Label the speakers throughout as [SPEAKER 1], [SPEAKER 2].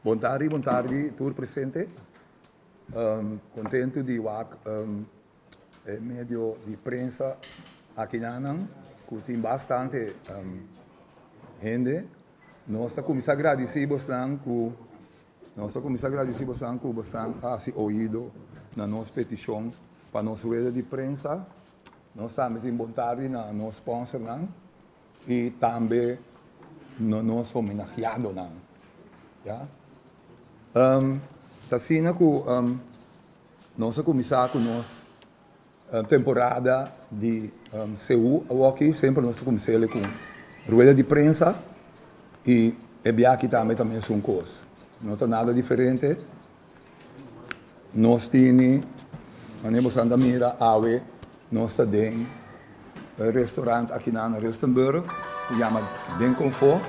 [SPEAKER 1] Bon tardi, bon tardi tur presente. Contento di wak e medio di prensa akinan cu tin bastante hende. Nos ta cuminsa agradeci bosnan cu nos ta cuminsa agradeci bosnan cu bosnan a haci oido na nos peticion pa nos rueda di prensa. Nos tambe tin bontad di na nos sponsornan y tambe na nos homenagiadonan. Ya. Um, ta asina cu um, nos a cuminsa cu nos um, temporada di um, CU awoki. Siempre nos a cuminsele cu rueda di prensa y e biaki tambe ta mes un cos. No ta nada diferente. Nos tini, mane bo san ta mira awe, nos ta den e restaurant akinan na Rustenburg, ku yama Den Confort.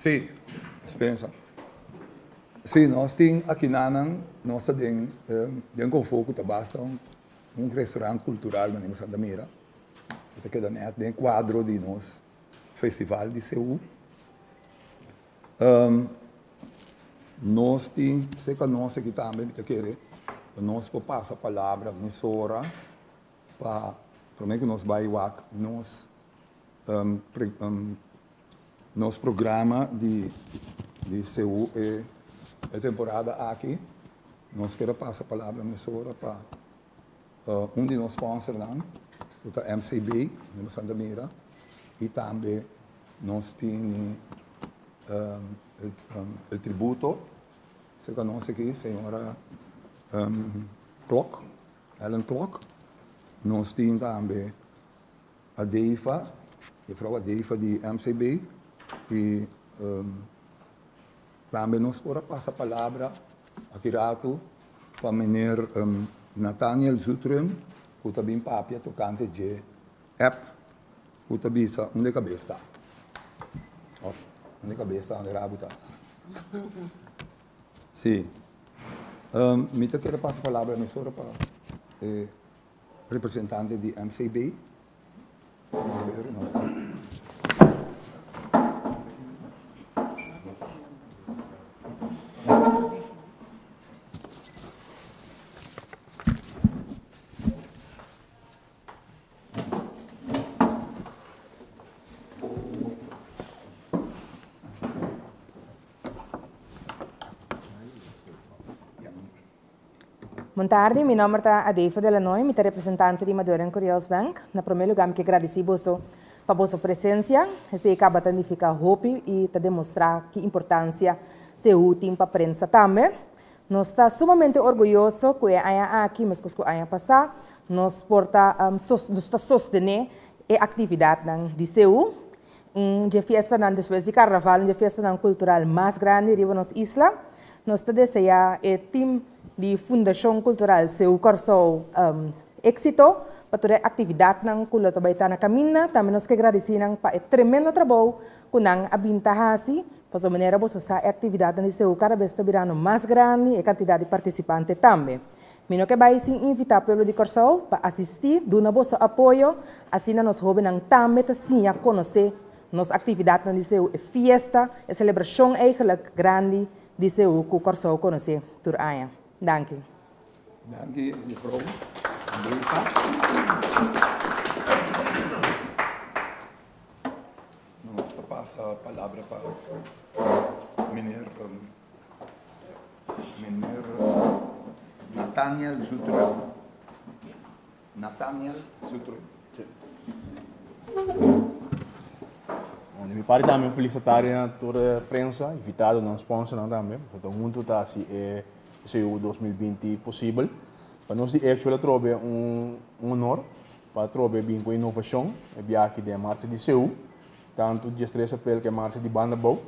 [SPEAKER 1] Sí, Spensa. Sí, nos tin akinanan, nos ta den den Confo ku ta basta un un restaurant cultural manera Santa Mira. E ta keda nèt den kuadro di nos festival di Seú. Nos tin sèk anònsie aki tambe mi ta kere pa nos por pasa palabra mesora Pa prome cu nos bay wak nos nos programa di di CU e e temporada aki. Nos quier a pasa palabra mesora pa un di nos sponsornan cu ta MCB den Santa Mira y tambe nos tini el tributo cerca nos aki señora Klok. Alan Klok, Nos tin tambe Adeifa, Mefrou Adeifa di MCB y tambe nos por a pasa palabra aki rato pa meneer Nathaniel Zutphen cu ta bin papia tocante dje app cu ta bisa Unda e cabes ta? Of Unda e cabes ta unda e rabu ta? Sí. Um, mi ta kere pasa palabra mesora pa eh, representante di MCB.
[SPEAKER 2] Bon tarde, mi nomber ta Adeifa de la Noy, mi ta representante di Madurein Curiels Bank. Na prome luga mi ke gradisi boso pa boso presensia, esei kaba ta nifiká hopi i ta demostrá ki importansia Sehu tin pa prensa tambe. Nos ta sumamente orguyoso cu e aña aki, mescos cu aña pasa, nos por ta nos ta sostene e actividadnan di CU. Un dje fiestanan despues di Carnaval, un dje fiestanan cultural mas grandi riba nos isla. Nos ta desea e team di Fundacion Cultural CU Corsou exito pa tur e actividadnan cu lo ta bay ta na caminda. Tambe nos ke gradici nan pa e tremendo trabou cu nan a bin ta haci Pasobra manera boso sa e actividadnan di CU cada bes ta birando mas grandi, e cantidad di participante tambe. Mi no ke bay sin invita pueblo di Corsou pa asisti, duna boso apoyo, asina nos hobennan tambe ta siña conoce nos actividadnan di CU, e fiesta, e celebracion eigenlijk grandi di CU cu Corsou conoce tur aña. Danki. Danki
[SPEAKER 1] Juffrouw Andresa. No mas ta pasa palabra pa Meneer Nathaniel Zutrop. Nathaniel Zutrop.
[SPEAKER 3] Bon, de mi parte también felicitare a toda e prensa, invitado nan, sponsornan también, porque todo mundo ta así e CU 2020 posible. Pa nos di Actual atrobe un honor. Patrobe a bin ku inovashon e biaha den Marcha di Seu, tantu di diestres Aprel ku e Marcha di Banda Bou.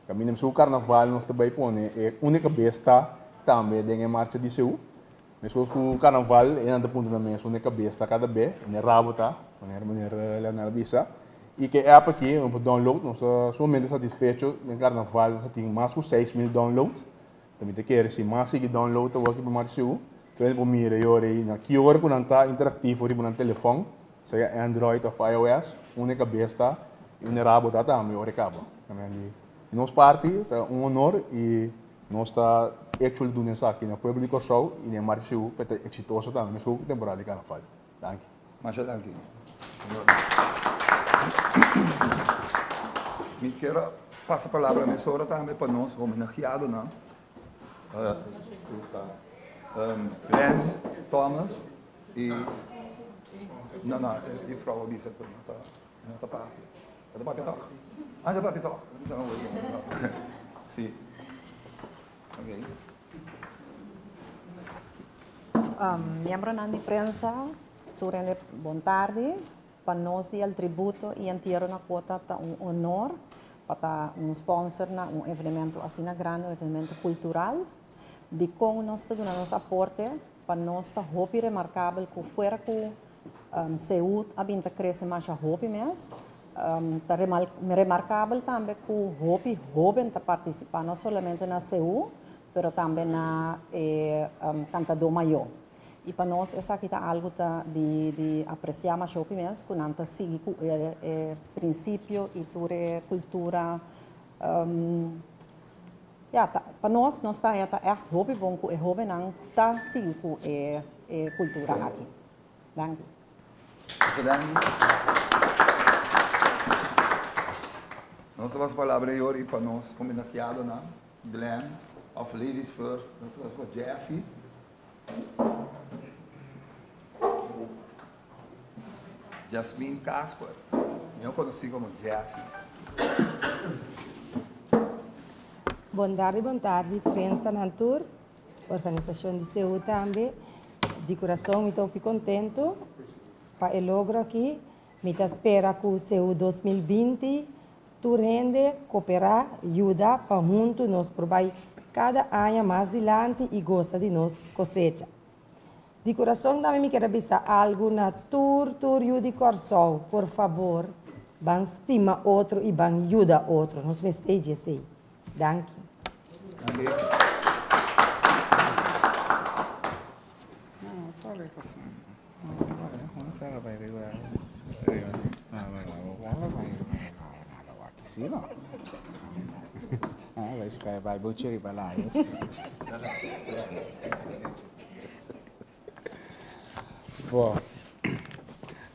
[SPEAKER 3] Kaminda mesku ku Karnaval nos ta bai pone e únika bes ta tambe den e Marcha di Seu. Meskos ku Karnaval e nan ta punta nan mes únika bes ta kada be, unda e rabo ta, manera Meneer Leonel a bisa. I ku e app aki nos por download nos ta sumamente satisfecho. Den Karnaval nos a tin mas ku seis mil download Ta mi ta kere si mas sigui download awor aki pa Marshu. Kende por mira yo rei na ki ora cu nan ta interactivo riba nan telefon, sea Android of IOS, unda e cabes ta y unda e rabo ta tambe ora e caba. Amen. Di nos parti ta un honor y nos ta echo di duna esaki na pueblo di Corsou y den Marshu pa e ta exitoso tambe, mescua cu temporada di Carnaval. Danki. Masha danki.
[SPEAKER 1] Mi kier a pasa palabra mesora tambe pa nos homenaheadonan. Len Thomas y no no e frou a bisa cu no ta no ta papi. Ta papi tok? Ah ta papi tok. Si.
[SPEAKER 4] Miembronan di prensa, tur hende bon tardi. Pa nos di El Tributo i Entierro na Cuota ta un honor pa ta un sponsor na un evenemento asina grandi, un evenemento cultural. Dicon nos ta duna nos aporte? Pa nos ta hopi remarkabel ku fuera ku Seut a bin ta krese masha hopi mes, ta remarkabel tambe ku hopi hóben ta partisipá no solamente na Seut, pero tambe na e kantadó mayó. I pa nos esaki ta algu ta di di apresiá masha hopi mes ku nan ta sigui ku e prinsipio i tur e kultura. Ya, ta, pa nos, nos ta haña ta ègt hopi bon ku e hóbennan ta sigui ku e, e kultura aki. Danki. Mucha danki.
[SPEAKER 1] Nos ta pasa palabra ei ora i pa nos homenakiadonan, Glen òf Ladies First, nos ta pasa pa Jessie. Jasmine Casper, mior conoci como Jassie.
[SPEAKER 5] Bon tardi bon tardi prensanan tur, organisacion di CEU tambe. Di curason mi ta hopi contento pa e logro aki. Mi ta spera cu CEU dos mil binti tur hende coopera, yuda pa huntu nos por bay cada aña mas dilanti y gosa di nos cosecha. Di kurason tambe mi kier a bisa algu na tur tur yu di Kòrsou, por fabor ban stima otro i ban yuda otro. Nos mester dje esei. Danki.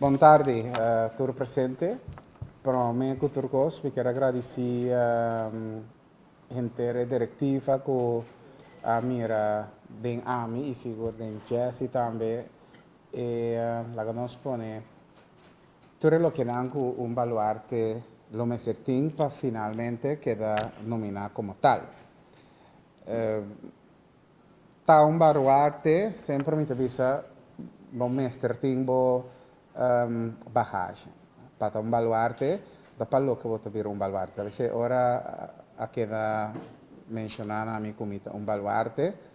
[SPEAKER 6] Bon tardi tur presente. Prome ku tur kos mi keda gradisí henter e direktiva ku a mira den ami i sigur den Jessy tambe e laga nos pone Tur e lokenan ku un baluarte lo mester tin pa finalmente keda nominá komo tal. Ta un baruarte semper mi ta bisa bo mester tin bo bahashi. Pa ta un baluarte ta pa loke bo ta bira un baluarte. Ta bese ora a keda menshoná na mi ku mi ta un baluarte.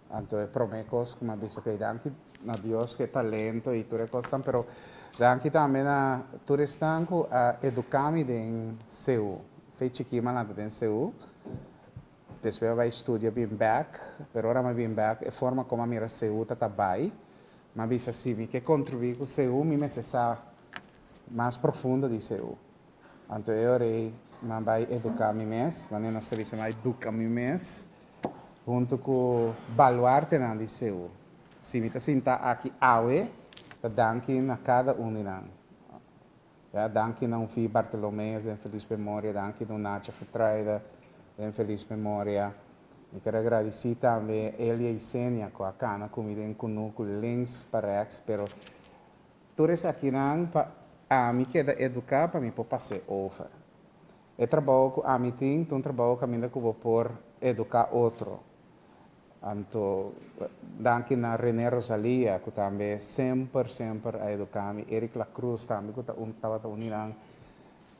[SPEAKER 6] Anto e prome cos cu m'ha bisto key danki na Dios cu e talento y tur e cosnan, pero danki tambe na tur esnan cu a educa mi den CU. Fey chiki m'a lanta den CU, despues m'a bay studia bin bek, pero ora m'a bin bek e forma como m'a mira CU ta ta bay, m'a bisa si mi ke contribui cu CU mi mester sa mas profundo di CU. Anto e ora ei nan bai eduká mi mes, manera nos ta bisa nan bai duka mi mes, huntu ku baluartenan di Seú. Si mi ta sintá aki awe, ta danki na kada un di nan. Ya, danki na Unfí Bartolomé, den felis memoria, danki na Unacha Gertruida, den felis memoria. Mi ker a gradisí tambe Elia i Senia ku a kana ku mi den Kunú ku Links Parèks, pero Tur esakinan pa ami keda eduká pa mi por pas'é over. E trabou ku ami tin ta un trabou kaminda ku bo por eduká otro. Anto danki na René Rosalia ku tambe semper semper a eduká mi, Eric Lacruz tambe ku ta un tabata un di nan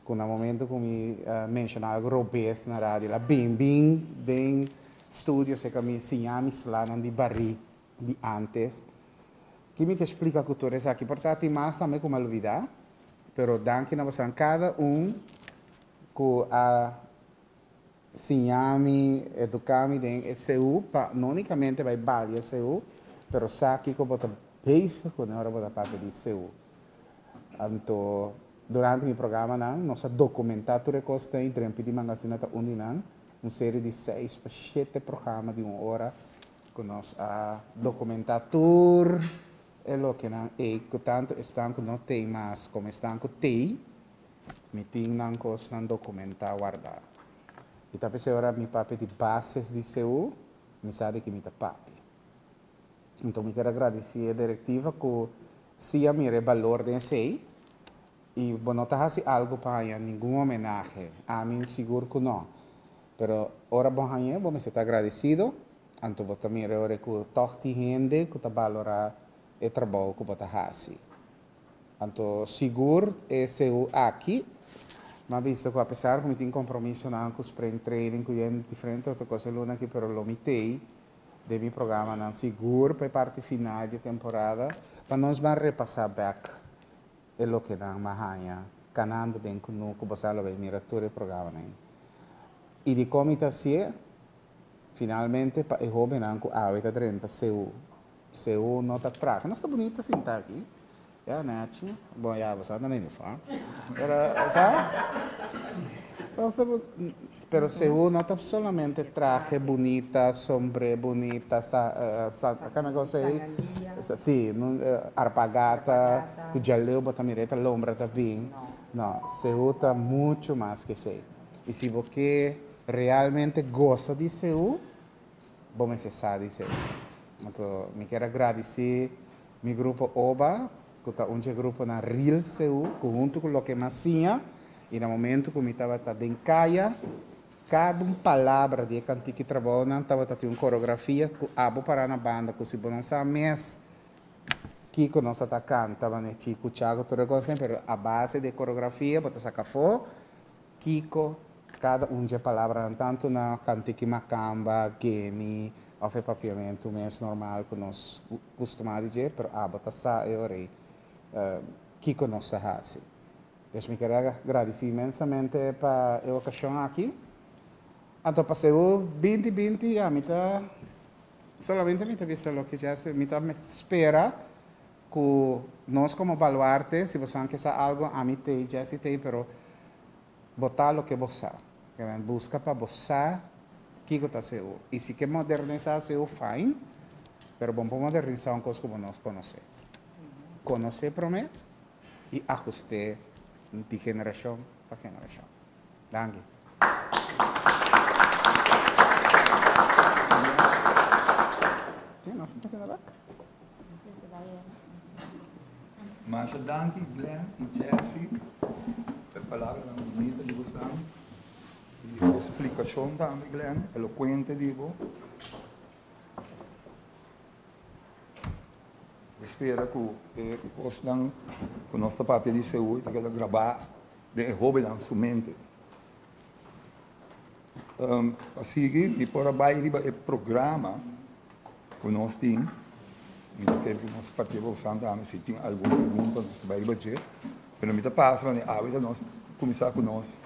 [SPEAKER 6] ku na momento ku mi menshoná algu robes na radio el a bimbin den studio se'ka mi siña mi slanan di barí. di antes. Kimi ke splika ku tur esaki por ta tin mas tambe ku mi a lubida, pero danki na bosonan kada un ku a siña mi, eduka mi den e CU pa no unikamente bai bali e CU pero sa kiko bo ta bezig kune ora bo ta papia di CU. Anto durante mi programanan nos a dokumentá tur e kosnan i drempel di mangasina ta un di nan, un serie di seis pa shete programa di un ora Ku nos a dokumentá tur e lokenan ei ku tantu esnan ku no tei mas komo esnan ku tei, mi tin nan kosnan dokumentá wardá. I ta p'esei ora mi papia di bases di CU, mi sa di ki mi ta papia. Anto mi kier a gradisí e direktiva ku siña mi e balor den esei, Y bo no ta haci algo pa haña ningun homenahe? Amin sigur cu no. Pero ora bo hañ'e, bo mester ta agradecido, anto bo ta mira oe cu tog tin hende cu ta balora e trabou cu bo ta haci. Anto sigur e CU aki mi a bisa cu apesar cu mi tin compromisonan cu Spring Training cu yen diferente otro cos e luna aki, pero lo mi tey den mi programanan sigur pa e parti final di e temporada pa nos ban repasa bek e loke nan ma haña kanando den ku nu ku bo sa lo bai mira tur e programanan i di kon mi ta hasié finalmente pa e hobennan ku awe ta drenta seu seu no ta traha nos ta bunita sinta aki ya nachi bon ya bo sa nan a yufá pero sa nos ta. Pero segun no ta solamente trahe bunita, sombre bunita, sa sa kana cosa ei, si, arpagata ku djaleu bo ta mira ei ta lombra ta bin, no, sehu ta muchu mas ke esei. I si bo ke realmente gosa di sehu, bo mester sa di sehu. Anto mi kier a gradisí mi grupo oba ku ta un dje gruponan ril Seú, ku huntu ku loke mas siña, i na momentu ku mi tabata den kaya, kada un palabra di e kantiki Trabounan tabata tin un koreografia ku abo para na banda, ku si bo no sa mes kiko nos a ta kanta, manera Chico Chago tur a konsé, pero a base di e koreografia bo ta saka afó. Kiko kada un dje palabranan, tantu na kantiki makamba, geni òf e papiamentu mes normal ku nos kustumá di dje, pero abo ta sa e ora ei kiko nos ta hasi. Pues mi kere gradisí inmensamente pa e okashon aki. Anto pa seu binti binti ami ta solamente mi ta bisa loke dje a mi ta spera. Ku nos komo Baluarte, si bo san ke sa algu, ami te, Jessy te, pero bo ta loke bo sa. Buska pa bo sa kiko ta CU. I si ke modernisá CU, fain, pero bo no por modernisá un kos ku bo no konosé. Konosé promé i ahust'é di generashon pa generashon. Danki.
[SPEAKER 1] Masha danki Glen i Jessy p'e palabranan bunito di bosan i e splikashon tambe Glen, elokuente di bo. Mi spera ku e kosnan ku nos ta papia di Seul ta keda grabá. den e hóbennan su mente. Pa sigui mi por a bai riba e programa ku nos tin, mi ta kere ku nos papia Roxanne ta hami si tin algun pregunta nos ta bai riba dje, pero mi ta pasa manera awe ta nos kuminsá ku nos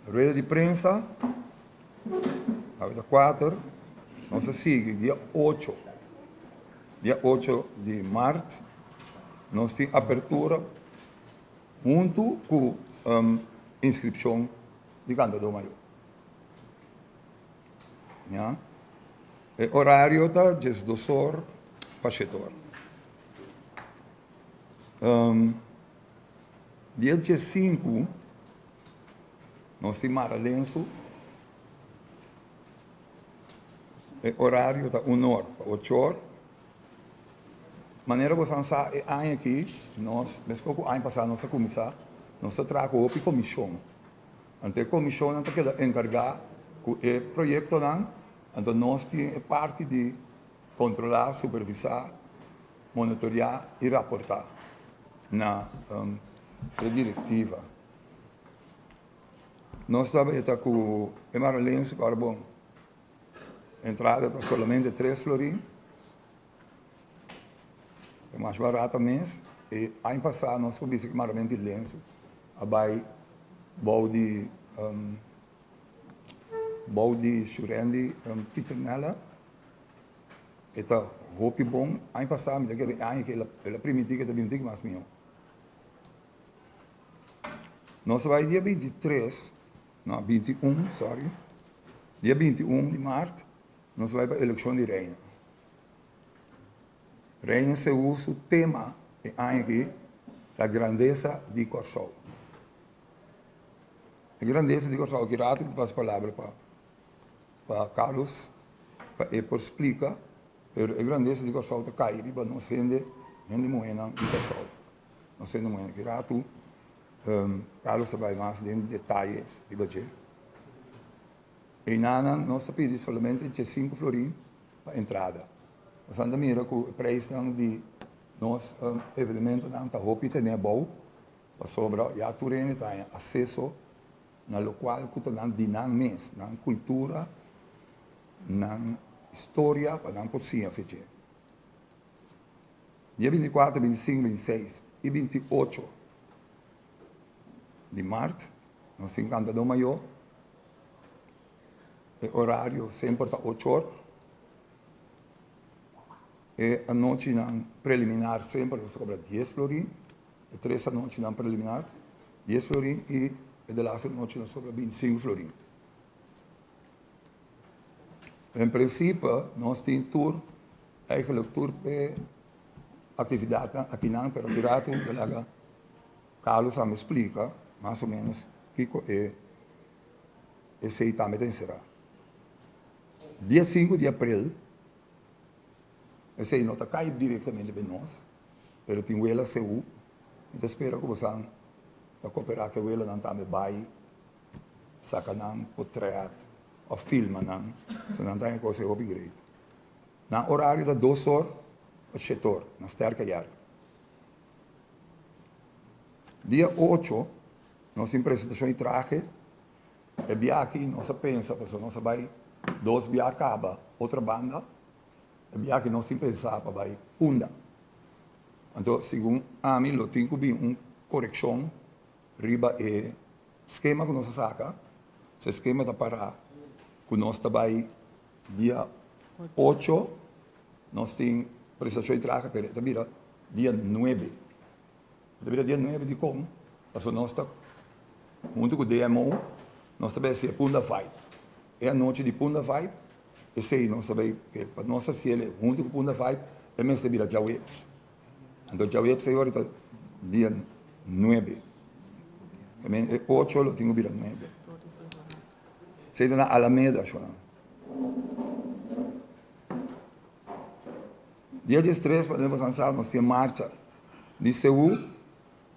[SPEAKER 1] rueda di prensa, awe ta kuater, nos a sigui dia ocho, dia ocho di mart nos tin apertura. Huntu ku inskripshon di kantadó mayó. E orario ta djes dos or pa shete or. Di e djes sinku nos tin mara lensu. E orario ta un or pa ocho or. Manera bo san sa e aña aki nos, mescua cu aña pasa, nos a cuminsa, nos ta traha cu hopi comision. Anto e comisionnan ta keda encarga cu e proyectonan, anto nos tin e parti di controla, supervisa, monitorea y raporta na e directiva. Nos ta weta cu e Maralens cu Arbon. Entrada ta solamente tres florin, e mas barato mes. E aña pasa nos por bisa cu mayormente e lensu a bay bou di bou di Shurendi Pitternella. E ta hopi bon. Aña pasa mi ta kere e aña kila el a primiti cu e ta bini un tiki mas miho. Nos a bay dia binti tres No, binti i un, sorry. Dia binti i un di mart nos bai pa elekshon di Reina. Reina Seú su tema e aña aki ta Grandesa di Kòrsou. E grandesa di Kòrsou, aki rato mi ta pasa palabra pa pa Carlos pa e por splika, pero e grandesa di Kòrsou ta kai riba nos hende, hende muhénan di Kòrsou. Nos hende maña ki ratu. Carlos ta bai mas den detaye riba dje. Einanan nos ta pidi solamente djesinku florin pa entrada. Boso ta mira ku e preisnan di nos evenementonan ta hopi tene abou pasobra ya tur hende ta haña aseso na lokual ku ta nan di nan mes, nan kultura, nan historia pa nan por siña fe dje. Dia binti kuater, binti sinku, binti seis i binti ocho di mart nos tin kantadó mayó. E orario semper ta ocho or. E anochinan preliminar semper nos ta kobra dies florin. E tres anochinan preliminar dies florin i e de laster nochi nos ta kobra binti sinku florin. En principe nos tin tur, eigenlijk tur e actividadnan akinan, pero di rato e laga Carlos a mi explica mas o menos kico e esey ta meten cera. Dia sinku di april esey no ta cay directamente den nos, pero tin wela CU, mi ta spera cu bosan ta coopera cu e welanan tambe bay. Saca nan cu treat of filma nan so nan ta haña cos e hopi great. Nan horario ta dos or pa shete or na sterca yard. Dia ocho nos tin presentacion y trahe. E bia aki nos a pensa pasobra nos a bay dos bia caba otra banda. E bia aki nos tin pensa pa bay Punda. Anto segun ami lo tin cu bin un coreccion Riba e skema ku nos a saka, su e skema ta pará ku nos ta bai dia ocho, nos tin presentashon di traha, pero e ta bira dia nuebe. E ta bira dia nuebe dikon? Pasobra nos ta huntu ku DMO, nos ta bai hasi e punda vibe. E anochi di punda vibe, esei nos ta bai, pa nos hasi el huntu ku punda vibe, e mes ta bira djaweps. Anto djawei op seis ora ta dia nuebe. Tambe e ocho lo tin ku bira nuebe. Esei ta na Alameda ashò. Dia djes tres pa den Bos Ansao nos tin e marcha di Seú,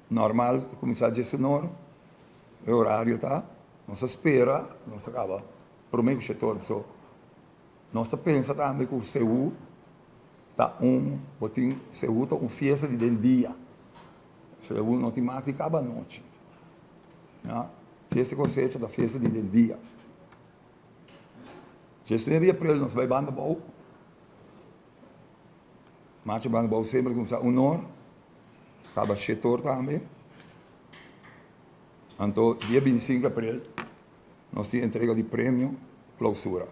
[SPEAKER 1] normal ta kuminsá djes un or, e orario ta, nos ta spera nos ta kaba prome ku shete or. Nos ta pensa tambe ku Seú ta un bo tin Seú ta un fiesta di den dia. Seú no tin mas di kaba anochi. Mira, fiesta di kosecha ta fiesta di den dia. Djes luna di aprel nos bai banda bou. Macha banda bou semper a kumsa unor, kaba shetor tambe. Anto dia binti sinku aprel Nos tin entrega di premio clausura.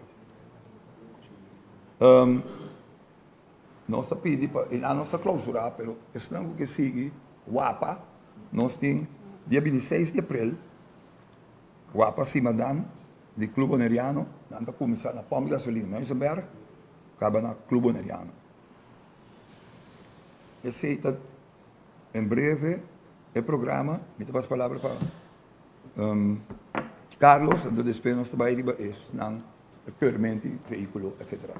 [SPEAKER 1] Nos ta pidi pa e año nos ta clausura pero esnan cu ke sigui wapa nos tin dia bintiseis di april wapa simanan di club boneriano nan ta cuminsa na pump di gasolina Muizenberg caba na club boneriano. Esey ta en breve e programa mi ta pas palabra pa. Carlos, ento despues nos ta bai riba esnan permit di vehiculo etcetera.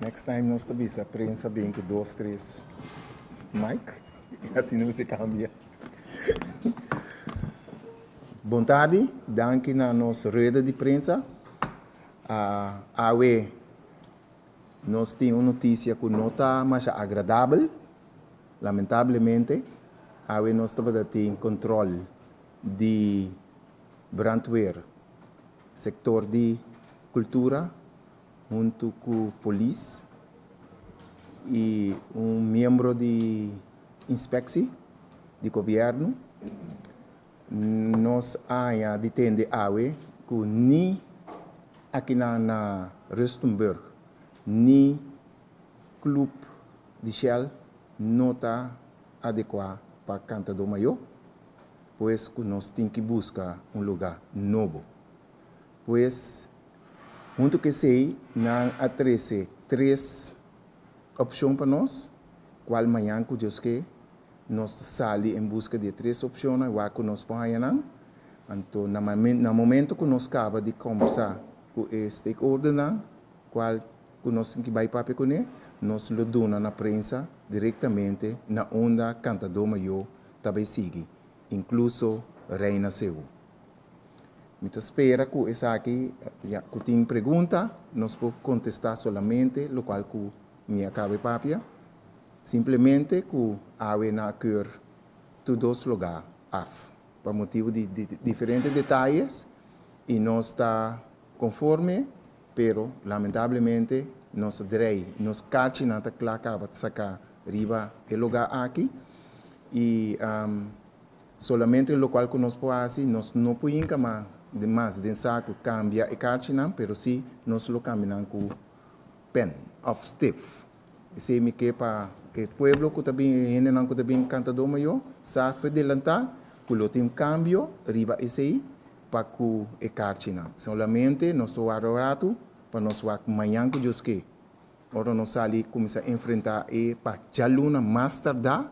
[SPEAKER 6] Next time nos ta bisa prensa bin cu dos tres mic y asina mester cambia. Bon tardi, danki na nos rueda di prensa. A Awe nos tin un notisia ku no ta masha agradabel. Lamentablemente awe nos tabata tin kontrol di brandweer, sektor di kultura huntu ku polis i un miembro di inspeksi di gobièrnu. Nos a haña di tende awe ku ni akinan na Rustenburg ni klub di Shell no ta adekuá pa kantadó mayó, pues ku nos tin ki buska un lugá nobo. Pues, huntu ku esei nan a trese tres opshon pa nos, kual mañan ku Dios ke. Nos ta sali en buska di e tres opcionnan wak cu nos por haña nan. Anto na momento cu nos caba di combersa cu e stakeholdernan cual cu nos tin ki bay papia cune, nos lo duna na prensa directamente na unda cantador mayo ta bay sigui, incluso Reina Seu. Mi ta spera cu esaki, ya cu tin pregunta, nos por contesta solamente locual cu Mi a caba e papia, simplemente cu awe nan a keur tur dos loga af pa motibu di diferente detalles y nos ta conforme pero lamentablemente nos drei y nos carchi nan ta cla caba saca riba e loga aki y solamente locual cu nos por haci nos no por hinca mas den sacu cambia e carchi nan pero si nos lo cambinan cu Pen of Steve. Esei mi ke pa e pueblo ku ta bin, e hendenan ku ta bin kantadó mayó, sa fedelantá ku lo tin kambio riba esei pa ku e karchinan. Solamente nos wak un ratu pa nos wak mañan ku Dios ke. Ora nos sali kuminsá enfrentá e pa djaluna mas tardá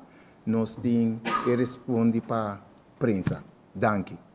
[SPEAKER 6] nos tin e respondi pa prensa. Danki.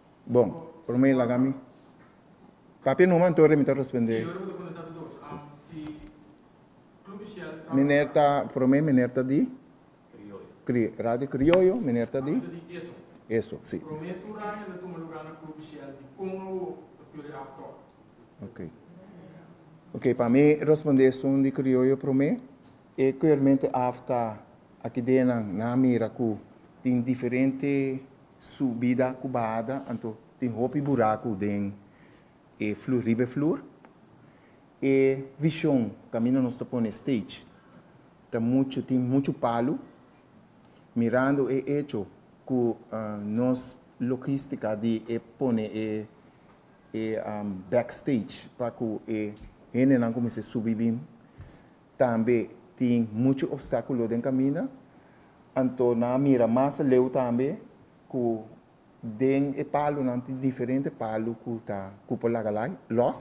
[SPEAKER 6] Bon, prome laga mi. Papia numa, anto remi ta respondé. Meneer ta, prome meneer ta di. Radio Krioyo, meneer ta di. Eso, si. Ok. Ok, pa mi respondé esun di Krioyo prome. E kuermente afta aki denan nan mira ku tin diferente. Subida ku bahada anto tin hopi buraku den e flur riba e flur. E vishon kaminda nos ta pone stage ta muchu tin muchu palu mirando e echo ku nos logistika di e pone e e backstage pa ku e hendenan kumins'é subi bin. Tambe tin muchu opstakulo den kaminda, anto nan a mira mas aleu tambe ku den e palunan tin diferente palu ku ta ku por laga lai lòs,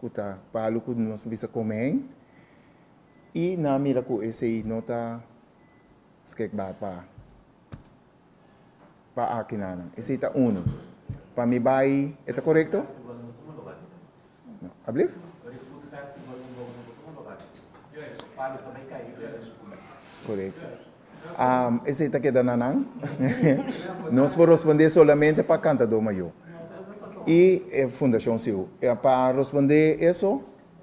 [SPEAKER 6] ku ta palu ku nos ta bisa kome ein, i nan a mira ku esei no ta skikbaar pa. pa akinan. Esei ta unu. Pa mi bai e ta korekto? Ablief?
[SPEAKER 7] Korekto.
[SPEAKER 6] Esei ta keda na nan? Nos por responde solamente pa kantadó mayó i e fundashon siu. Pa responde eso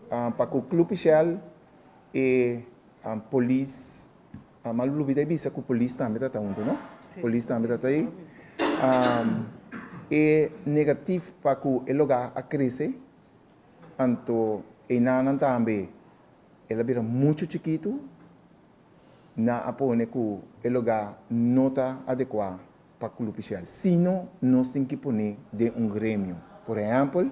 [SPEAKER 6] pa ku Club Shell i Polis. Mama lo bida y bisa cu polis tambe ta ta hunto no. Polis tambe ta ta ey. E negatif pa cu e loga a crece anto e nanan tambe el a bira mucho chikito nan a pone cu e loga no ta adecua pa club ishal. Sino nos tin ki pone den un gremio. Por ehempel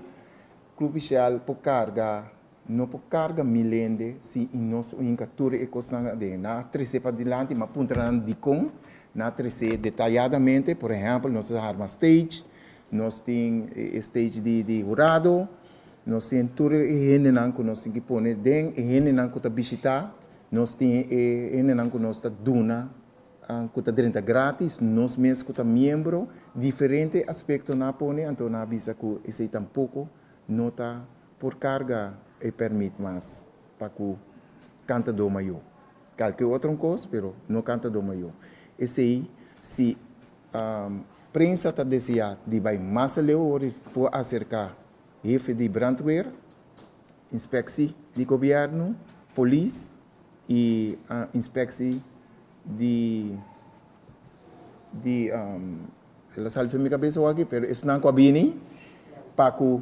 [SPEAKER 6] club ishal por carga. No por carga mil hende si y nos winca tur e cosnan aden. Nan a trece padilanti, ma puntra nan dicon nan a trece detayadamente. Por ehempel, nos a arma stage, nos tin e stage di di hurado, nos tin tur e hendenan cu nos tin ki pone den, e hendenan cu ta bishita, nos tin e hendenan cu nos ta duna, cu ta drenta gratis, nos mes cu ta miembro, diferente aspectonan a pone, anto nan a bisa cu esey tampoco no ta. por carga e permit mas pa cu cantador mayor, calke otro cos pero no cantador mayor. Esey si prensa ta desea di bay mas aleu ora e por acerca hefe di brandweer, inspectie di gobierno, polis y inspectie di di el a sali for mi cabeza awor aki pero esnan cu a bini pa cu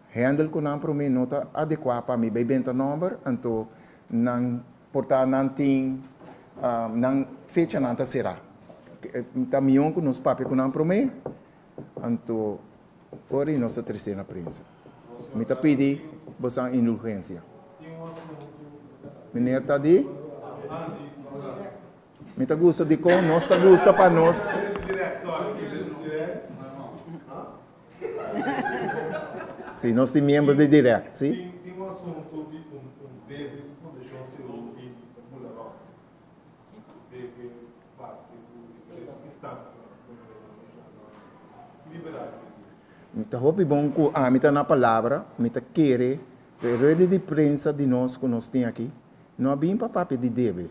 [SPEAKER 6] Hendel ku nan promé no ta adekuá pa mi bai benta nòmber, anto nan por ta nan tin nan fechanan ta será. Ta mion ku nos papia ku nan promé, anto ora i nos ta tres'é na prensa. Mi ta pidi bosan indulgensia. Meneer Tadí, mi ta gusta dikon nos ta gusta pa nos. Sí, nos tin miembro di directie. Tin un asunto di un debil fundashon segun di Bularok,
[SPEAKER 8] den ki base ku diferente instancia na Comunidad Internacional ta liberal di e ciu. Ta
[SPEAKER 6] hopi bon ku ami ta na palabra, mi ta kere ku e ruede di prensa di nos ku nos tin aki no a bin pa papia di debil.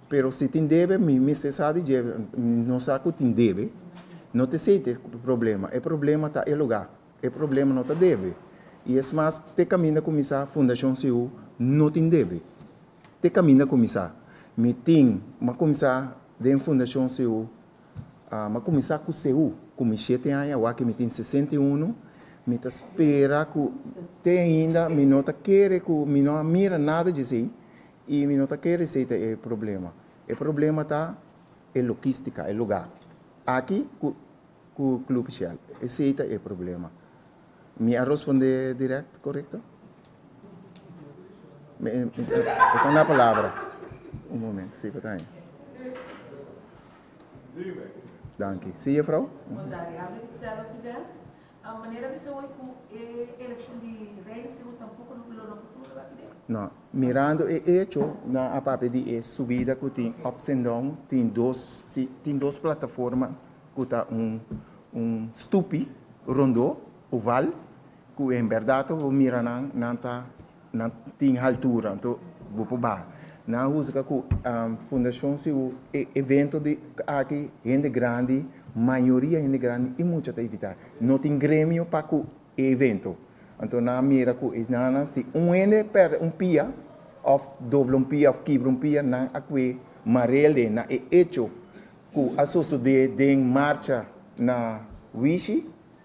[SPEAKER 6] Pero si tin debe mi mester sa di dje, mi no sa ku tin debe, no ta esei ta e problema. E problema ta e lugá. E problema no ta debe. I es mas, te kaminda ku mi sa Fundashon Siú no tin debe. Te kaminda ku mi sa. Mi tin, m'a kuminsá den Fundashon Siú, m'a kuminsá ku Seú ku mi shete aña awá ke mi tin sesenta i unu, mi ta spera ku te ainda mi no ta kere ku mi no a mira nada dje esei. Y mi no ta kere esey ta e problema. E problema ta e logistica, e luga. Aki cu cu Club Shell. Esey ta e problema. Mi a rsponde direct, corecto? Mi a tanda palabra. Un momento, si pata ahi. Danki. Si, Juffrouw? Mos dari habri di Sèl Occident.
[SPEAKER 9] A manera mi sa hoy cu e eleccion di Reina Según tampoco no lo rompe tur lo a pide? No. Mirando
[SPEAKER 6] e hecho nan a papia di e subida cu tin ups and down, tin dos, si, tin dos plataforma cu ta un, un stupi, rondo, oval, cu en berdad ta wou mira nan, nan ta Nan
[SPEAKER 10] tin haltura anto bo por baha. Nan a husga cu Fundacion Siu e evento di aki hende grandi, mayoria hende grandi y mucha ta invita. No tin gremio pa cu e evento. Anto nan a mira cu esnanan si un hende perde un pia of dobla un pia of kibra un pia nan a cue marelde na e hecho cu a sosode den marcha na Wishi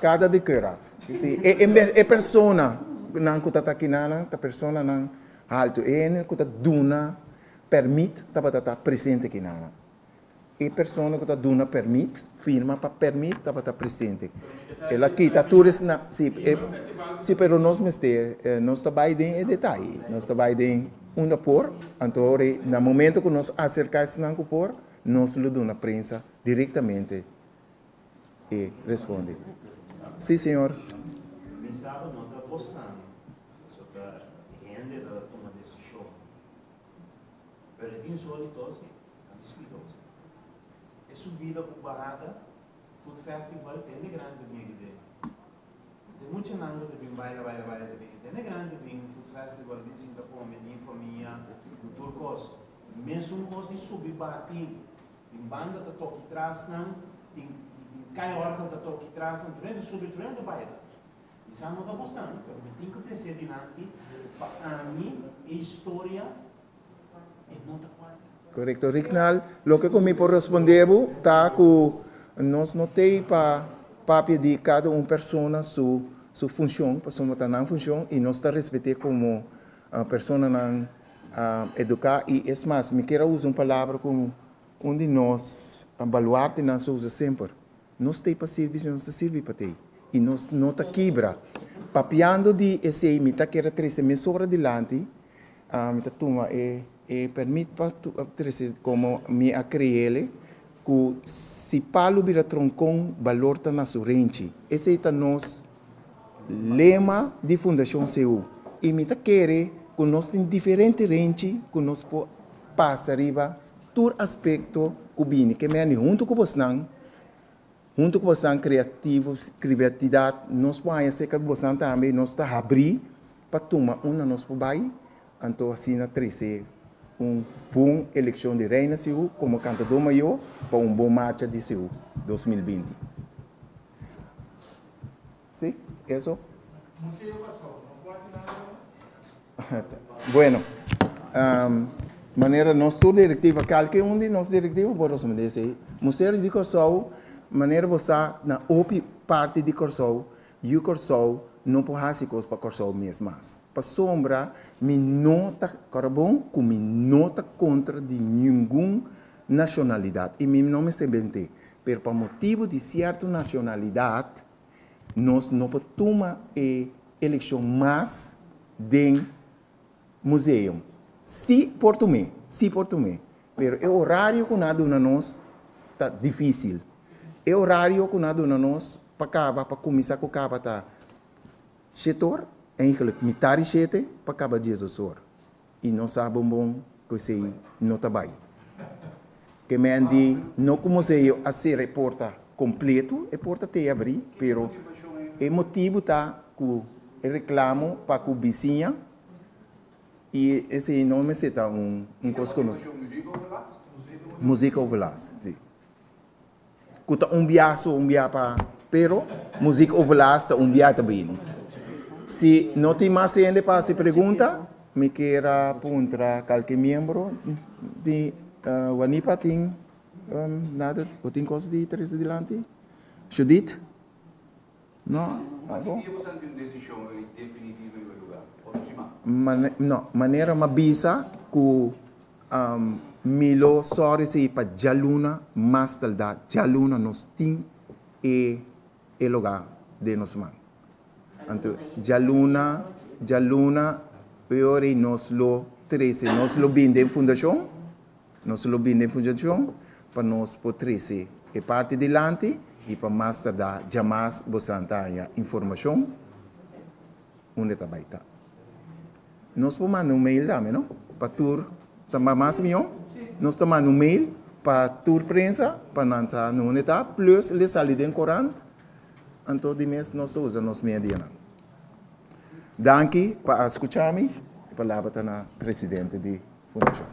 [SPEAKER 10] Kada di Curaf. E personanan ku ta ta kinanan ta personanan haltu. E hende ku ta duna pèrmit tabata ta presente kinanan. E persona ku ta duna pèrmit, firma pa pèrmit tabata presente. El a kita tur esnan. Sí, pero nos mester, nos ta bai den e detaye. Nos ta bai den. Unda por, anto ori na momento cu nos acerca esnan cu por, nos lo duna prensa directamente e responde, Si,
[SPEAKER 7] señor. Tin muchanan cu ta bin baila, baila, baila ta bin. E tende grandi bin food festival, bin sinta come, di famia, di tur cos. Mes un cos di subi baha tin. Tin banda ta toki trasnan, tin tin cai organ ta toki trasnan, tur hende subi, tur hende baila. Mi sa no ta gusta, pero mi tin cu trece dinanti, pa ami e historia Correcto Ricknal,
[SPEAKER 10] loke cu mi por respondé bo ta cu nos no ta ey pa papia di cada un persona su su funcion, pasobra ta nan funcion y nos ta respet'e como personanan educá y es mas mi kier a usa un palabra cu un di nos baluartenan ta usa semper, Nos t'ei pa sirbi si nos ta sirbi pa t'ei i nos no ta kibra. Papiando di esei mi ta kere trese mesora dilanti, mi ta tuma e permit pa trese komo mi a kreele ku si palu bira tronkon balor ta na su renchi. Esei ta nos lema di Fundashon CU i mi ta kere ku nos tin diferente renchi ku nos por pasa riba. tur aspekto ku bini. Ke mendi huntu ku bosnan, huntu ku bosnan kreativo, kriatidat, nos por haña serka ku bosnan tambe i nos ta habrí pa tuma un na nos por bai, anto asina trese un bon elekshon di Reina Sihu komo kantadó mayó pa un bon marcha di Sihu dos mil binti. Si, eso. Museo pa chou, no por hasi nada den el? Ta bueno. Manera nos tur directiva, calke un di nos directiva por respondé esei. Museo di Corsou, manera bo sa, na hopi parti di Corsou, yu Corsou no por hasi cos pa Corsou mes mas. Pasobra mi no ta, ora bon, cu mi no ta contra di ningun nacionalidad y mi no mester bent'e, pero pa motibu di cierto nacionalidad, Nos no por tuma e eleccion mas den museum. Si por tum'e, si por tum'e, pero e horario cu n'a duna nos ta dificil. E horario cu n'a duna nos pa caba, pa cuminsa cu caba ta shete or, eigenlijk mitad di shete pa caba dies dos or. I no sa bon bon ku esei no ta bai. Te men di no ku mosei yo a sera e porta kompletu, e porta t'ei abrí, pero e motibu ta ku e reklamo pa ku bisiña i esei no mester ta un kos ku nos. Musikoverlast. Musikoverlast, sí. cu ta un bia su un bia pa pero muzik overlast ta un bia ta bini si no tin mas hende pa haci pregunta mi kier a puntra calke miembro di wanipa tin nada o tin cosa di trece dilanti Judith. Manera ma bisa ku Milo sòri si pa djaluna mas taldá djaluna nos tin e lugá den nos man. Anto djaluna djaluna e ora ei nos lo trese nos lo bin den fundashon. Nos lo bini funjacion pa nos por trece e parti dilanti y pa mas tarda djamas bo san ta haya informacion unda ta bay ta. Nos por manda un mail tambe no pa tur ta mas mijo nos ta manda un mail pa tur prensa pa nan sa unda ta plus le sali den corant anto di mes nos ta usa nos medianan. Danki pa a skucha mi. E palabra ta na presidente di fundashon.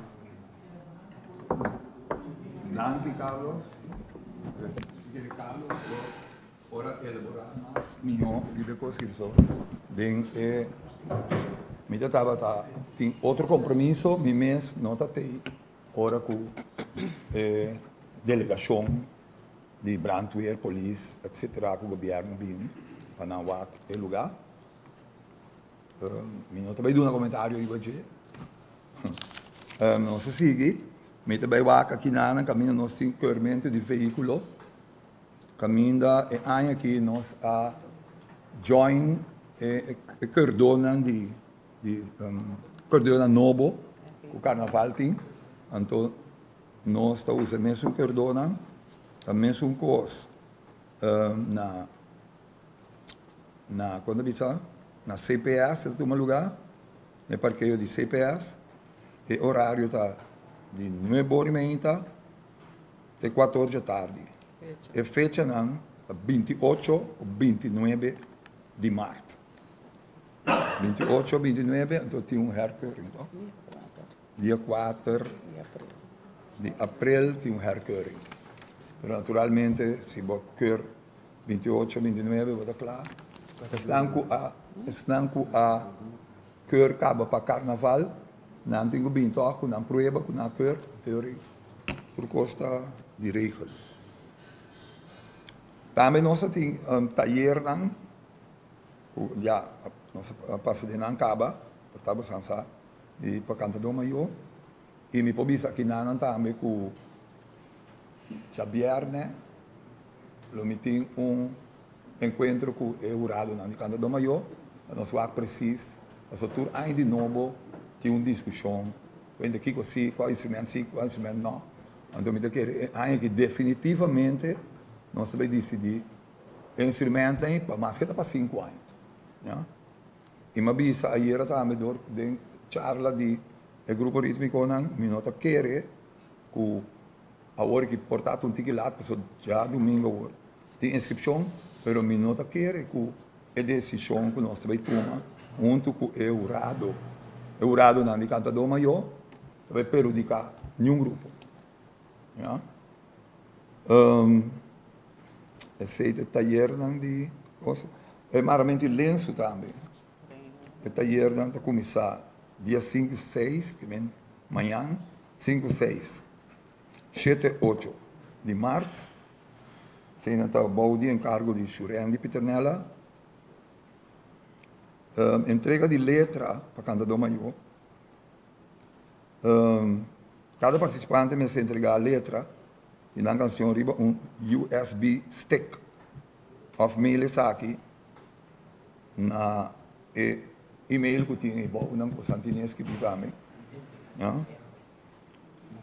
[SPEAKER 1] Danki Carlos. Presidente Carlos por ora elaborá mas mihó di de kos ki so den e mi ta tabata tin otro kompromiso mi mes no ta tei ora ku e delegashon. di brandweer, polis, etc. Ku gobierno bini pa nan wak e luga. Mi no ta bai duna komentario riba dje. Nos a sigui. Mi ta bai wak akina nan kaminda nos tin keurmento di veikulo. Kaminda e aña aki nos a join e keurdonan di keurdonan nobo ku karnaval tin. Anto. Nos ta usa e mesun kerdónan, ta mesun kos na na kon ta bisa na CPS ta tuma lugá, na e parkeo di CPS. E orario ta di nuebe ora i meinta te kuator dje tardi. E fechanan ta binti ocho ku binti nuebe di mart. Binti ocho, binti nuebe anto tin un hèrkering. Dia kuater di aprel tin un hèrkeuring. Pero naturalmente si bo keur binti-ocho, binti-nuebe bo ta kla. Esnan ku a esnan ku a keur kaba pa karnaval nan tin ku bin tòg ku nan prueba ku nan a keur teori tur kos ta di regel. Tambe nos a tin tayernan ku ya nos a pasa di nan kaba, por tabata san sa. Di pa kantadó mayó. I mi por bisa kinanan tambe ku djabièrnè lo mi tin un enkuentro ku e huradonan di kantadó mayó. Pa nos wak presis. Pasobra tur aña di nobo tin un diskushon kuenta kiko sí, kua instrumento sí, kua instrumento no. Anto mi ta kere e aña aki definitivamente nos ta bai disidí e instrumentonan pa mas ke ta pa sinku aña. I m'a bisa ayera tambe dor den charla di e grupo rítmikonan mi no ta kere ku awor ki por ta tuntiki lat pasobra dja dumingo awor tin inskripshon pero mi no ta kere ku e desishon ku nos ta bai tuma huntu ku e hurado e huradonan di kantadó mayó ta bai perhudiká niun grupo. Ya. Um, esei de tayernan di cosa. E maramento di lensu tambe. E tayernan ta kumisa dia 5, 6, que men mañan, 5, 6, 7, 8 di mart. Sei nan ta bou di encargo di Shurendi Piternella. Um, entrega di letra pa cantador mayor. Cada participante mester entrega letra di nan cancion riba un usb stick of mail esaki na e email cu tin ei bow nan cu Santini a escribi pa mi.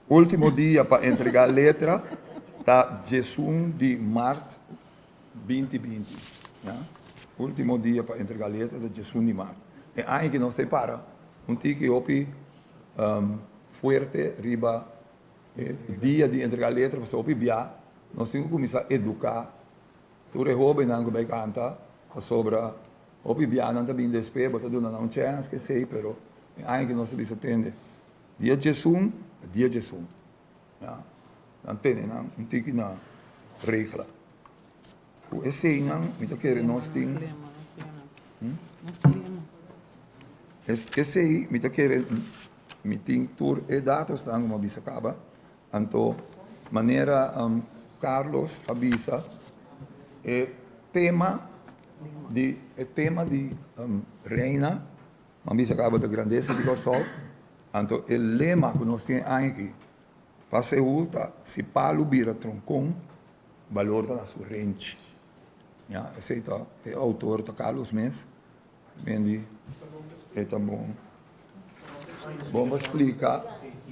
[SPEAKER 1] Ultimo dia pa entrega letra ta diesun di mart. Binti binti, ya ultimo dia pa entrega leta ta djesun di mar. E aña aki nos ta e para un tiki hopi fuerte riba e dia di entrega letra pasobra hopi bia nos tin ku kuminsá eduká tur e hóbennan ku bai kanta pasobra hopi bia nan ta bini despé bo ta duna nan un chèns kesei pero e aña aki nos ta bisa tende dia djesun ta dia djesun. Ya, nan tene nan un tiki na regla. Ku eseinan mi ta kere nos tin, esei mi ta kere mi tin tur e datosnan ku mi a bisa kaba. Anto manera Carlos a bisa e tema di e tema di Reina. Nan bisa kaba ta grandesa di Kòrsou, anto e lema ku nos tin aña aki pa segur ta si palu bira tronkon, balor ta na su renchi. Ya, esei ta, e outor ta Carlos mes, men di e ta bon, bon pa splika,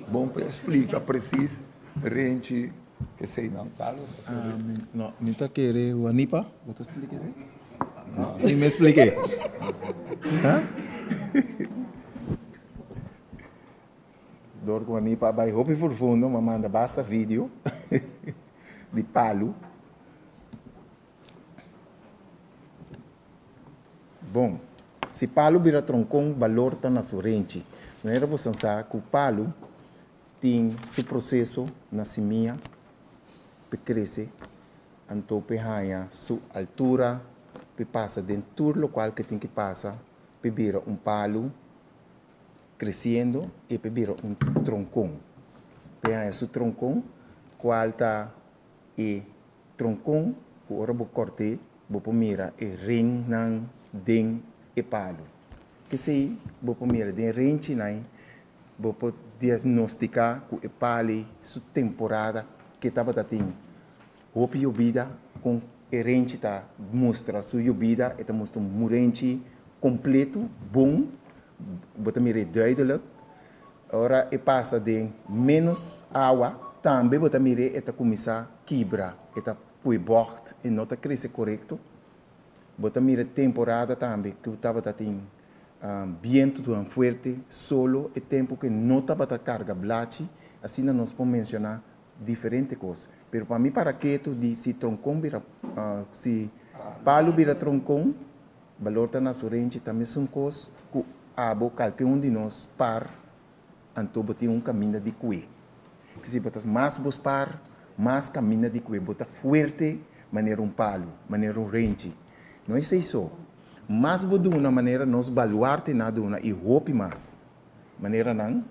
[SPEAKER 1] bon pa e splika presis renchi. Esei nan Carlos a scribi. Ah, mi, no, mi
[SPEAKER 10] ta kere Juanipa, bo ta explica esei? No. Mi me explique. Huh? Dor Juanipa bai hopi profundo, ma manda basta video di palu. Bon, si palu bira troncon, balor ta na su renchi. Manera bosan sa cu palu, tin su proseso na simia p'e krese anto p'e haña su altura, p'e pasa den tur lokual k'e tin ki pasa, p'e bira un palu kresiendo i p'e bira un tronkon. P'e haña su tronkon, kual ta e tronkon ku ora bo kòrt'e bo por mira e rennan den e palu. P'esei bo por mira den renchinan Bo por diagnostica cu e pali su temporada que tabata tin hopi yobida con e renchi ta mustra su yobida e ta mustra un murenchi completo bon bo ta mira e duidelijk ora e pasa den menos awa tambe bo ta mira e ta cuminsa kibra e ta pue bocht e no ta crece corecto bo ta mira temporada tambe cu tabata tin. bientu tabata fuerte, solo, e tempu ke no tabata karga blachi, asina nos por menshona diferente kos. Pero pa mi para ketu di si tronkon bira, si palu bira tronkon, balor ta na su renchi, ta mesun kos ku abo kalke un di nos par. Anto bo tin un kaminda di kue. Kisi bo ta mas bo spar, mas kaminda di kue. Bo ta fuerte manera un palu, manera un renchi. No esei so. Mas bo duna manera nos baluarte na duna i hopi mas. Maneranan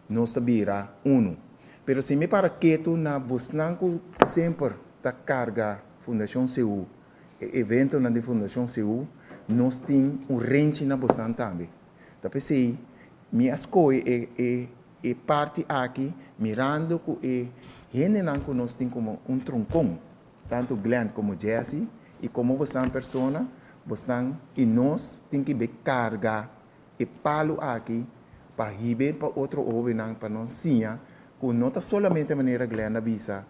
[SPEAKER 10] nos ta bira unu. Pero si mi para ketu na bosnan ku semper ta karga Fundashon CU, e eventonan di Fundashon CU, nos tin un renchi na bosan tambe. Ta pesey mi a scoge e e e parti aki mirando cu e hendenan cu nos tin como un troncon, tanto Glen como Jessy, y como bosan persona bosnan y nos tin ki be carga e palo aki pa hibe pa otro hobennan pa nos siña cu no ta solamente manera Glen a bisa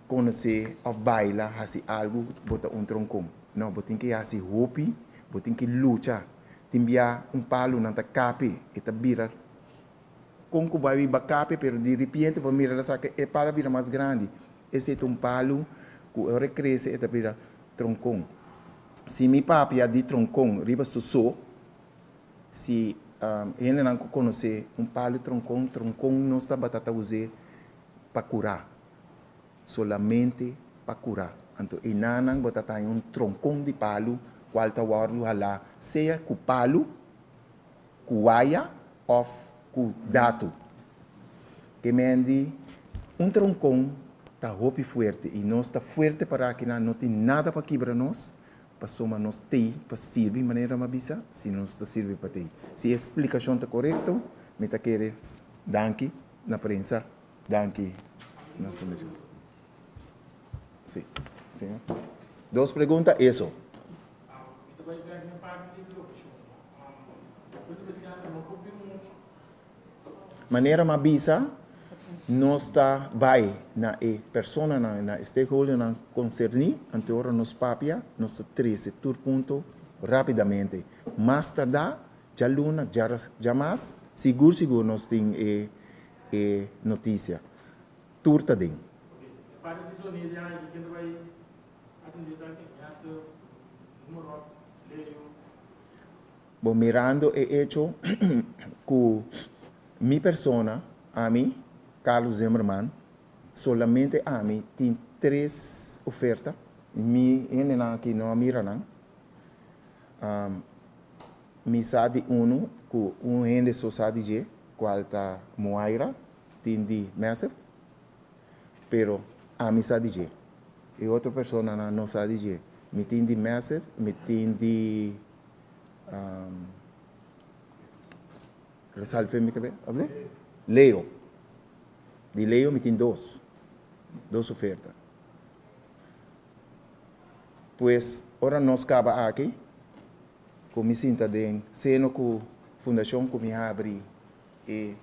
[SPEAKER 10] conoce of baila haci algo bo ta un troncon, no bo tin ki haci hopi, bo tin ki lucha. tin bia un palu nan ta kape e ta bira kon ku bai wi ba kape pero di ripiente bo mira la sa ke e palu a bira mas grandi esei ta un palu ku ora e krese e ta bira tronkon si mi papi a di tronkon riba su so si hendenan ku konos'é un palu tronkon tronkon nos tabata ta us'é pa kurá. Solamente pa curá. Anto e nanan bo ta taña un troncon di palu cual ta wordo halá sea cu palu, cu waya of cu dato. E men di un troncon ta hopi fuerte y nos ta fuerte para cu nan no tin nada pa kibra nos pasobra nos t'ey pa sirbi manera m'ha bisa si nos ta sirbi pa t'ey. Si e explicacion ta corecto mi ta kere danki na prensa Danki. Nos por lees junto. Sí. Señor. Dos pregunta eso. Manera m'a bisa nos ta bai na e personanan, na e stakeholdernan concerni, anto e ora nos papia, nos ta trece tur punto rapidamente. Mas tarda djalunas, djamas, sigur sigur nos tin e e noticia. Tur ta den. Bo mirando e hecho cu mi persona, ami, Carlos Zimmerman, solamente ami tin tres oferta. Mi hendenan aki no a mira nan. Mi sa di unu ku un hende so sa di dje, kual ta Moira, tin di Massive. Pero ami sa di dje. E otro personanan no sa di dje. Mi tin di Massive, mi tin di resalfe mi kebé tabata Leo. Di Leo mi tin dos, dos oferta. Pues ora nos kaba aki. Cu mi sinta den seno cu fundacion cu mi habri e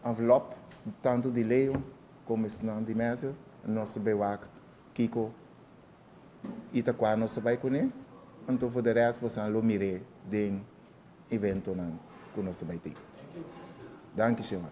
[SPEAKER 10] envelop tanto di Leo como esnan di mester nos bay wak kico y ta cua nos ta bay cune anto for de rest bosa a lo mire den eventonan cu nos ta bay tin. Danki Señor.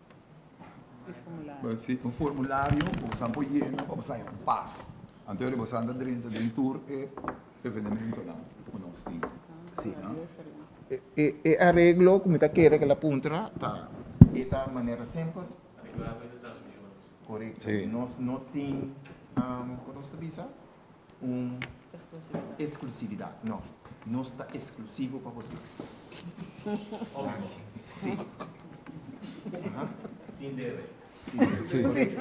[SPEAKER 1] un formulario ku bosan por yena pa bosan haña un pas antes di bosan ta drenta den tur e evenementonan ku nos tin.
[SPEAKER 10] E areglo ku mi ta kere ke la puntra ta e ta manera semper korekto nos no tin ku nos ta bisa un exclusividad. No, nos ta exclusivo pa boso. Obvio. Si. Aha. Sin
[SPEAKER 7] debe. Sin debe.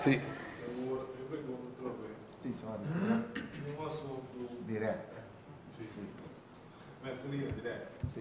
[SPEAKER 1] Si. Si.
[SPEAKER 10] Si, so a di.
[SPEAKER 8] Direct. Si.
[SPEAKER 10] Si.
[SPEAKER 8] Si.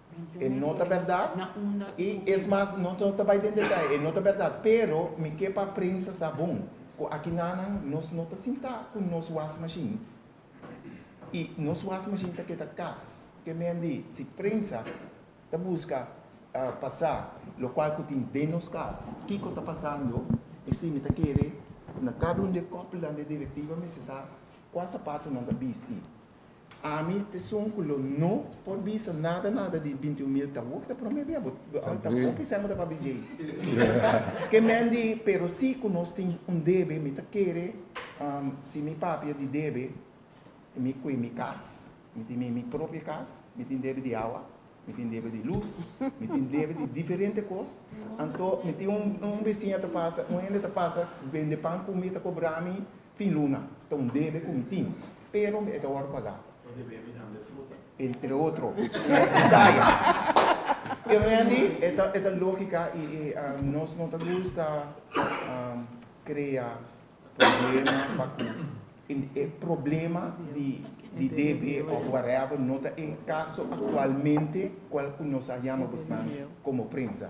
[SPEAKER 10] E no ta berdad, i es mas no ta bai den detay, e no ta berdad, pero mi ke pa prensa sa bon ku akinanan nos no ta sintá ku nos was mashin i nos was mashin ta keda kas, ke men di si prensa ta buska pa sa lo kual ku tin den nos kas kiko ta pasando esei mi ta kere na kada un di e kopulan di e direktiva mester sa kua sapatunan ta bisti. Ami ta esun cu lo no por bisa nada nada di bintiun mil taboe cu ta prome dia bo taboe ki semba ta pa BJ ke men di pero si cu nos tin un debe mi ta kere si mi papia di debe y mi cue mi cas mi tin mi mi propio cas mi tin debe di awa mi tin debe di luz mi tin debe di diferente cos anto mi tin un un besiña ta pasa un hende ta pasa bende pan cu mi ta cobra mi. Tin luna ta un debe ku mi tin, pero mi e ta wòrdu pagá. E debe mi nan de fruta. Entre otro. Detaye. Pero mi a di e ta e ta lógika i i nos no ta gusta krea problema pa ku e problema di di debe òf whatever no ta e kaso aktualmente kual ku nos a yama bo snan komo prensa.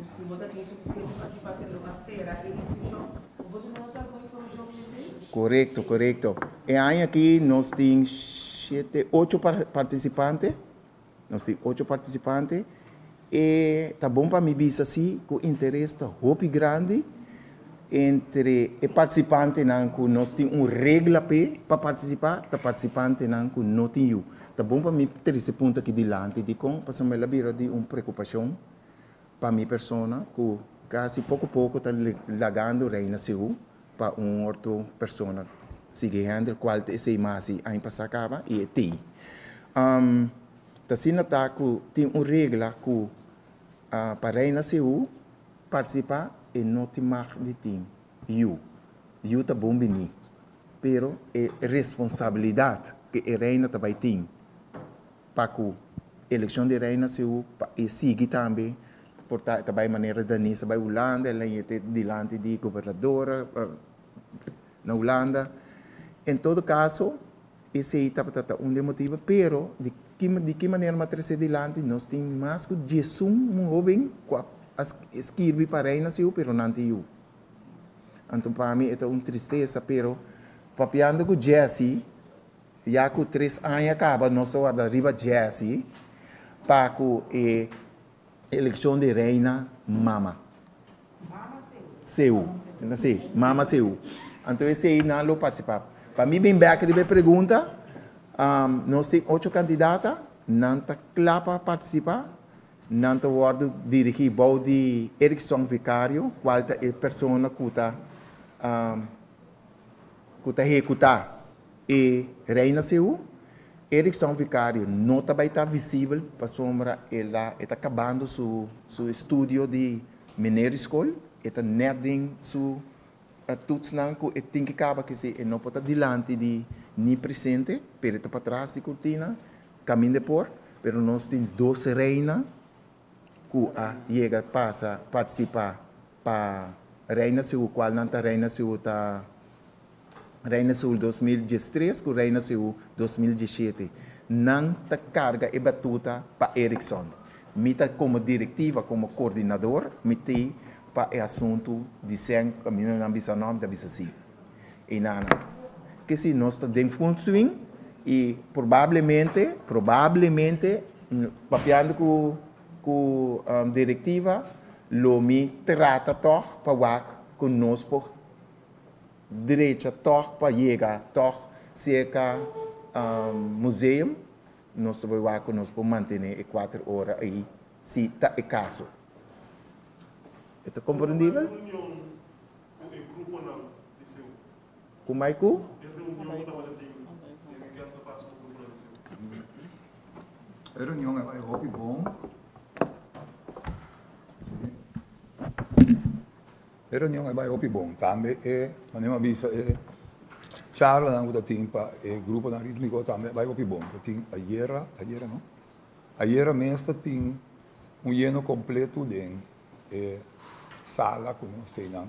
[SPEAKER 9] Si bo ta tin suficiente informacion pa kere lo a cera e inscripcion, bo
[SPEAKER 10] por duna nos algun informacion riba esey? Corecto, corecto. E aña aki nos tin shete, ocho participante, nos tin ocho participante, e ta bon pa mi bisa si cu interes ta hopi grandi entre e participantenan cu nos tin un regla p'e pa participa ta participantenan cu no tin yu. Ta bon pa mi trece punta aki dilanti, dicon? Pasobra el a bira di un preocupacion. pa mi persona cu casi poco poco ta lagando rey na Sehu pa un orto persona sigui hender cual ta esey masi aña pasa caba y e tey um ta asina ta cu tin un regla cu pa rey na Sehu participa e no tin mag di tin yu, yu ta bon bini pero e responsabilidad cu e reynan ta bay tin. pa cu eleccion di rey na Seoul pa e sigui tambe por ta ta bay manera Danisa bay Hulanda el na yete dilanti di gobernador na Hulanda en todo caso esey tabata ta un de motibo pero di ki di ki manera m'a trece dilanti nos tin mas cu diesun hoben cu a a skirbi pa rey na Seoul pero nan ta yu anto pa mi e ta un tristeza pero papiando cu Jessy. Ya cu tres aña caba nos ta warda riba Jessy pa cu e eleccion di reina mama Seou. Si, mama Seou. Anto esey nan lo participa. Pa mi bin bek riba e pregunta, nos tin ocho candidata, nan ta cla pa participa, nan ta wordo dirigi bou di Erickson Vicario, cual ta e persona cu ta hecuta. E reina Sehú, Eriksson Vicario no ta bai ta visibel pasobra e la e ta kabando su su estudio di mineri skol, e ta nèt den su tutsnan ku e tin ke kaba kisi e no por ta dilanti di ni presente pero e ta patras di kurtina kaminda por pero nos tin dos reina ku a yega pasa partisipá. pa Reina Seul kual nan ta Reina Seul ta Reina Seul dos mil diestres ku Reina Seul dos mil diesiete nan ta karga e batuta pa Ericsson mi ta komo direktiva komo koordinador mi te pa e asuntu di sèn kaminda nan bisa nò mi ta bisa si i nan a nan ke si nos ta den full swing i probablemente probablemente papiando ku. Ku direktiva lo mi trata tòg pa wak ku nos por drecha tòg pa yega tòg serka museum. Nos ta por wak ku nos por mantené e kuater ora ei si ta e kaso. E ta komprendibel? Ku mai ku? E reunion a bai
[SPEAKER 1] hopi bon. E reunion a bai hopi bon. Tambe e manera mi a bisa e charlanan ku ta tin pa e gruponan rítmiko tambe a bai hopi bon. Ta tin ayera, ayera no, ayera mes ta tin un yeno kompletu den e sala ku nos teinan.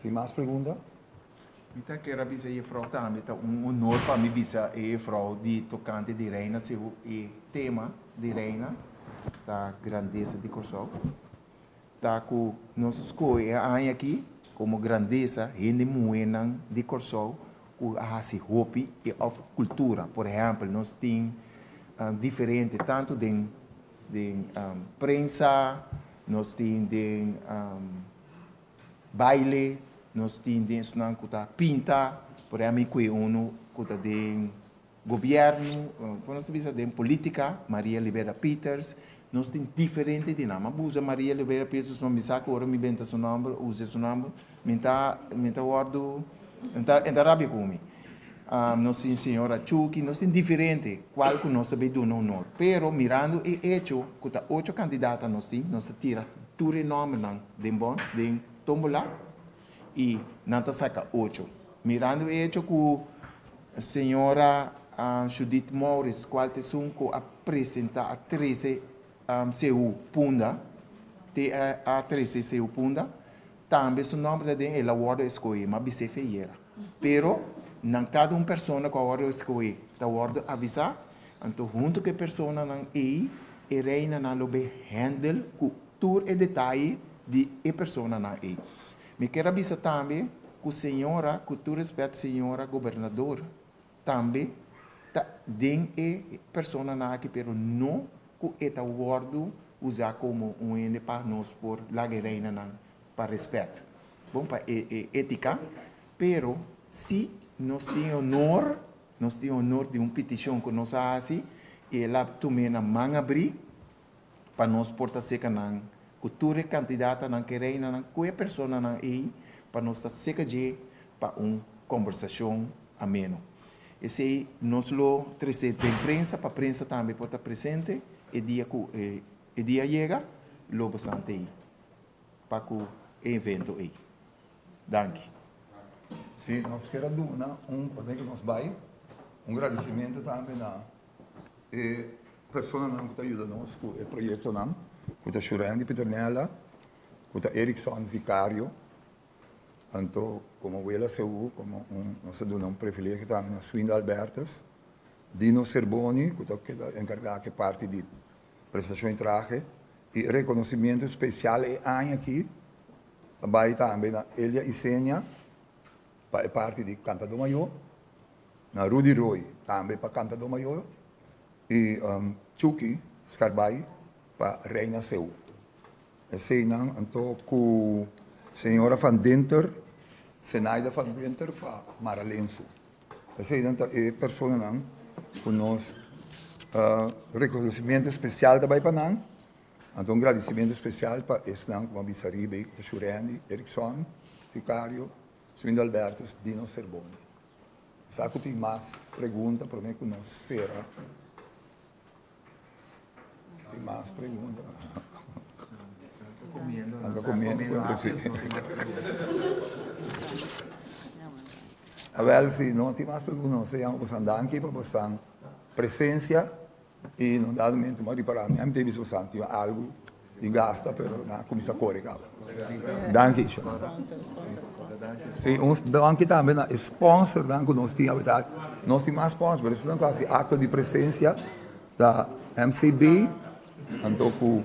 [SPEAKER 1] Tin mas pregunta? Mi ta
[SPEAKER 10] kera bisa jefrouw tambe ta un honor pa mi bisa e jefrouw di tokante di Reina Sehu e tema di Reina ta Grandesa di Kòrsou. Ta ku nos skohe e aña aki komo grandesa hende muhénan di Kòrsou ku a hasi hopi òf kultura. Por ehèmpel nos tin diferente tantu den prensa, nos tin den baile nos tin den esunnan ku ta pinta por ami kue unu ku ta den gobiernu por nos ta bisa den politika Maria Libera Peters nos tin diferente di nan ma busa Maria Libera Peters no mi sa ku ora mi benta su nòmber usa su nòmber mi ta mi ta wòrdu nan ta rabia ku mi nos tin señora Chucky, nos tin diferente cual cu nos ta bay duna honor. Pero mirando e hecho cu ta ocho candidata nos tin, nos a tira tur e nombernan den bon, den tombola y nan ta saca ocho. Mirando e hecho cu señora Judith Maurits, cual ta esun cu a presenta a trece CU punda, TEA trece CU punda, tambe su nomber ta den el a wordo escoge, ma bisef e yera. Pero, nan tabata un persona ku awor lo eskohé ta wòrdu avisá, anto huntu ku e personanan ei e reinanan lo bai hèndel ku tur e detaye di e personanan ei. Mi kier a bisa tambe ku señora, ku tur respèt señora gobernadora, Tambe ta den e personanan aki pero no ku e ta wòrdu usa komo un hende pa nos por laga e reinanan pa rèspèt, bon pa e etika, pero si nos tin e onor, nos tin e onor di un pitishon ku nos a hasi i el a tum'é na man abrí, pa nos por ta seca nan cu tur e cantidadnan cu e reinanan cu e personanan ey pa nos ta seca dje pa un conversacion ameno. Esey nos lo trece den prensa pa prensa tambe por ta presente e dia cu e dia yega lo basante ey pa cu e evento ey. Danki.
[SPEAKER 1] Si, nos kier a duna un, pasobra nos bay, un gradicimento tambe na. E personanan ku ta yuda nos ku e proyektonan ku ta Shurendi Pieternella, ku ta Erickson Vicario, anto komo Wela Seú, komo un, nos a duna un privilegio tambe na Swinda Albertus, Dino Serboni ku ta keda enkargá ku e parti di presentashon di trahe, i e rekonosimiento spesial e aña akí ta bai tambe na Elia Isenia, Pa e parti di kantadó mayó na Rudy Rooi tambe pa kantadó mayó i Chucky Scarbay pa Reina Seu. Esei nan anto ku señora Van Dinter, Zenaida Van Dinter pa Mara Lensu. Esei nan ta e personanan ku nos rekonosimiento spesial ta bai pa nan. Anto un gradisimentu spesial pa esnan ku a bisa riba ei ku ta Shurendi, Erickson, Ricario, Swindo Albertus, Dino Serboni. Sa ku tin mas pregunta promé ku nos sera. Tin mas pregunta. Anto komiendo, anto komiendo nos tin mas pregunta. Awel si no tin mas pregunta nos ta yama bosan danki pa bosan presensia. I no dado mente m'a ripará mi. Ami ta bisa ku Santi yu algu di gasta pero nan a kuminsá kore kaba. Danki Ishmael. Un danki tambe na e sponsornan ku nos tin awidat. Nos tin mas sponsor pero esnan ku hasi akto di presensia ta MCB anto ku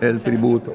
[SPEAKER 1] El Tributo.